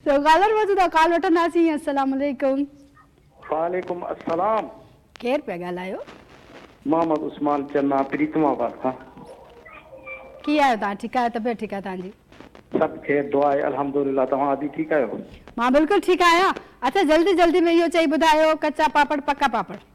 ته ڳالهه روز دا ڪال وٺنداسين السلام عليڪم. وعليڪم السلام. ڪير پيا ڳالهايو. محمد عثمان چنا پريتم آباد کان. ڪي آهيو توهان ٺيڪ آهيو طبيعت ٺيڪ آهي توهان جي. سڀ خير دعا آهي الحمدلله توهان ادي ٺيڪ آهيو. مان بلڪل ٺيڪ آهيان اچا جلدي جلدي ۾ اهو چئي ٻڌايو ڪچا پاپڙ پڪا پاپڙ.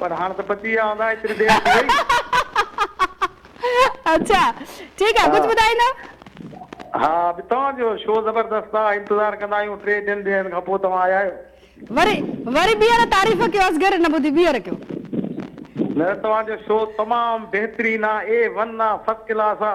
پر هاڻ ته پچي ويا هوندا ايتري دير ٿي وئي. اڇا ٺيڪ آ ڪجھ ٻڌائيندا. ها به توهان جو شو زبردست آ انتظار ڪندا آهيون ٽي ٽن ڏينهن کان پو توهان آيا آهيو. وري وري ٻيهر تعريف ڪيو اصغر نه ٻڌي ٻيهر ڪيو. نه توهان جو شو تمام بهترين آ اي ون آ فسڪلاس آ.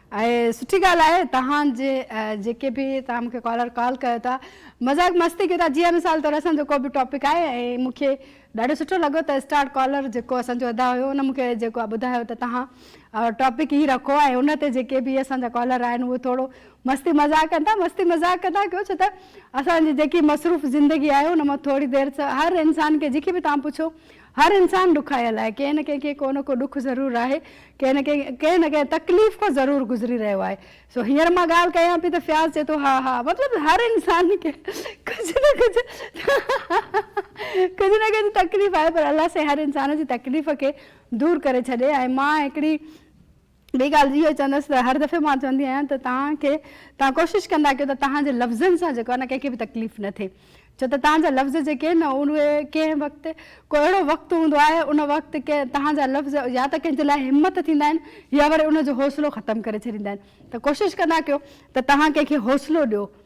اهي سٺي ڳالهه آهي توهان جي جيڪي به توهان مونکي ڪالر ڪال ڪيو ٿا مذاق مستي ڪيو ٿا جيئن مثال طور اسان جو ڪو به ٽاپڪ آهي ۽ مونکي ڏاڍو سٺو لڳو ته اسٽار ڪالر جيڪو اسان جو ادا هيو ان مونکي جيڪو ٻڌايو ته توهان ٽاپڪ هي رکو ۽ ان تي جيڪي به اسان جا ڪالر آهن اهي ٿورو مستي مذاق ڪن ٿا مستي مذاق ڪندا ڪيو ڇو ته اسان جي جيڪي مصروف زندگي آهي ان مان ٿوري دير هر انسان کي جيڪي به توهان پڇو هر انسان ڏکايل آهي، ڪنهن نه ڪنهن کي ڪو نه ڪو ڏک ضرور آهي، ڪنهن نه ڪنهن ڪنهن نه ڪنهن تڪليف کان ضرور گذري رهيو آهي، سو هينئر مان ڳالهه ڪيان پئي ته فياض چئي ٿو ها ها مطلب هر انسان کي ڪجهه نه ڪجهه ڪجهه نه ڪجهه تڪليف آهي پر الله سائين هر انسان جي تڪليف کي دور ڪري ڇڏي ۽ مان هڪڙي ٻي ڳالهه اهو چوندس ته هر دفعي مان چوندي آهيان ته توهان کي توهان ڪوشش ڪندا ڪيو ته توهان جي لفظن سان جيڪو آهي نه ڪنهن کي به تڪليف نه ٿئي ڇو ته توهان جا لفظ جيڪي آهن نه اهي ڪنهن وقت ڪو اهڙو وقت هوندو آهي ان وقت ڪنهن توهان جا لفظ يا ته ڪنهن جي لاء همت ٿيندا آهن يا وري ان جو حوصلو ختم ڪري ڇڏيندا آهن ته ڪوشش ڪندا ڪيو ته توهان ڪنهن کي حوصلو ڏيو.